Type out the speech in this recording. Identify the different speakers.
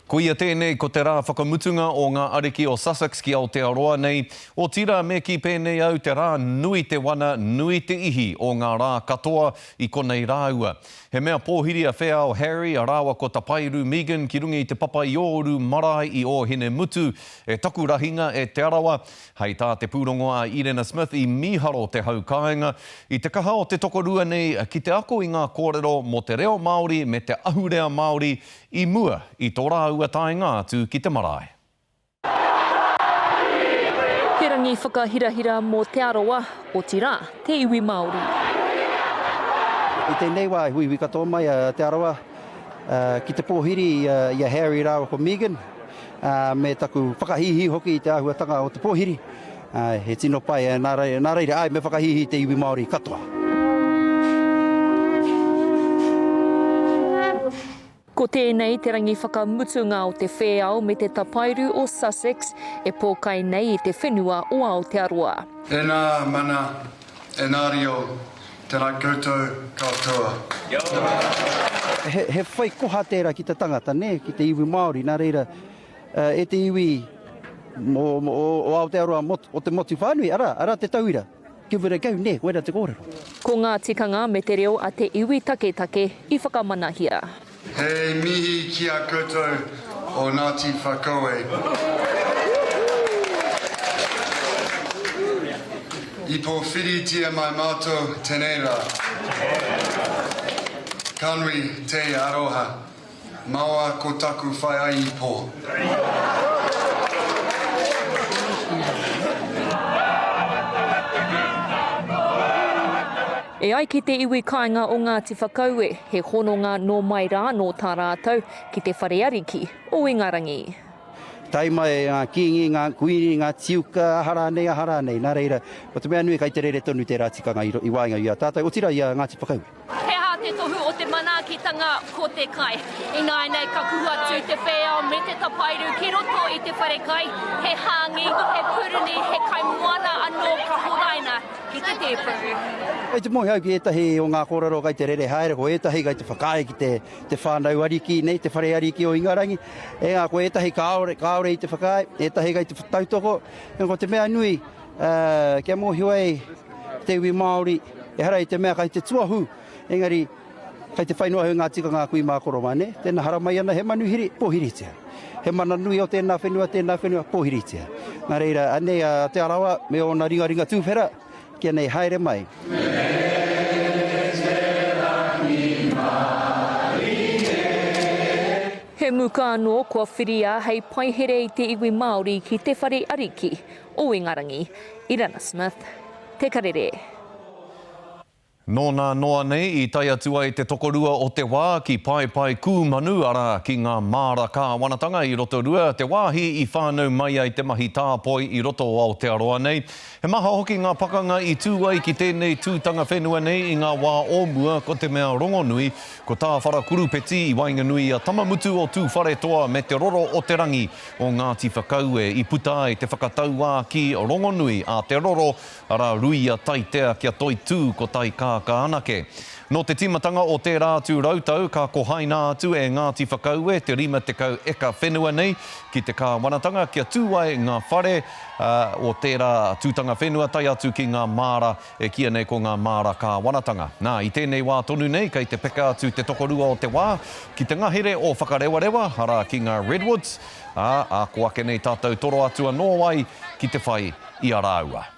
Speaker 1: Koia tēnei ko te rā whakamutunga o ngā ariki o Sussex ki Aotearoa nei, otirā me kī pēnei au te rā nui te wana, nui te ihi o ngā rā katoa i konei rāua. He mea pōhiri a Wheao Harry rāua ko Tapairu Megan ki runga i te papa i Ōuru marae i Ōhinemutu e taku rahinga e Te Arawa, hei tā te pūrongo a Irena Smith i mīharo te hau kāinga i te kaha o te tokorua nei ki te ako i ngā kōrero mō te reo Māori me te ahurea Māori I mua i tō rāua taenga atu ki te marae.
Speaker 2: He rangi whakahirahira mō Te Arawa, otirā, te iwi Māori.
Speaker 3: I tēnei wā i huihui katoa mai a Te Arawa ki te pōhiri i a Harry rāua ko Megan, me taku whakahīhī hoki i te āhuatanga o te pōhiri. Āe, he tino pai, ā, nā reira, nā reira, āe, me whakahīhī te iwi Māori katoa.
Speaker 2: Ko tēnei te rangi whakamutunga o te whēao me te tapairu o Sussex e pōkai nei i te whenua o Aotearoa. E nā
Speaker 4: mana, e nā rio, tēnā koutou katoa.
Speaker 3: He whai koha tērā ki te tangata, nē, ki te iwi Māori, nā reira, E te iwi o Aotearoa o te motu whānui, arā, arā te tauira. Give it a go, nē, koirā te kōrero. Ko ngā tikanga
Speaker 2: me te reo a te iwi taketake i whakamanahia. He
Speaker 4: mihi ki a koutou o Ngāti Whakaue. I pōwhiritia mai mātou tenei rā. Ka nui te aroha. Mawa ko taku whai ai i po.
Speaker 2: E ai ki te iwi kāinga o Ngāti Whakaue, he hononga nō mai rā nō tā rātou ki te whare ariki o Ingarangi. Tae mai
Speaker 3: e ngā kīngi, ngā kuīni, ngā tīuka, aha rānei, aha rānei. Nā reira, ko te mea nui, kei te rere tonu tērā tikanga i waenga i a tātou, otirā i a Ngāti Whakaue. He aha te tohu
Speaker 2: o te manaakitanga ko te kai? Ināianei ka kuhu atu te whēao me te tapairu ki roto i te whare kai, he hāngi, he puruni, he kaimoana anō ka horaina ki te tēpu. Kei te moe au
Speaker 3: ki ētahi o ngā kōrero kei te rere haere, ko ētahi kei te whakaae ki te, te whānau ariki nei, te whare ariki o Ingarangi. Engā, ko ētahi kāore, kāore i te whakaae, ētahi kei te tautoko. Engā, ko te mea nui, Kia mōhio ai te iwi Māori, ehara i te mea kai te tuahu, engari kai te whai noa i ngā tikanga a kui mā koro mā, nē? Tēnā haramai ana he manuhiri, pōhiritia. He mana nui o tēnā whenua, tēnā whenua, pōhiritia. Nā reira, anei a Te Arawa me ōna ringaringa tūwhera, kia nei, haere mai.
Speaker 2: He muka anō kua whiria hei paihere i te iwi Māori ki te whare ariki, O Ingarangi, Irana Smith, Te Karere.
Speaker 1: Nōna noa nei i tae atu ai te tokorua o te wā ki Paepae Kūmanu, arā, ki ngā māra kāwanatanga i Rotorua, te wāhi i whānau mai ai te mahi tāpoi i roto o Aotearoa nei. He maha hoki ngā pakanga i tū ai ki tēnei tūtanga whenua nei i ngā wā o mua, ko te mea rongonui, ko Tāwharakurupeti i waenganui i a Tamamutu o Tūwharetoa me Te Roro o te Rangi, o Ngāti Whakaue i puta ai te whakatauākī rongonui a Te Roro, arā, Ruia Taitea kia toitū ko Taikākā anake. Nō te tīmatanga o tērā atu rautau ka kohaina atu e Ngāti Whakaue te 50 eka whenua nei ki te kāwanatanga kia tū ai ngā whare o tērā tūtanga whenua tae atu ki ngā māra E kīia nei ko ngā māra kāwanatanga. Nā, i tēnei wā tonu nei kei te peka atu te tokorua o te wā ki te ngahere o Whakarewarewa, arā, ki ngā Redwoods, ā, ako ake nei tātou toro atu anō ai ki te whai i a rāua.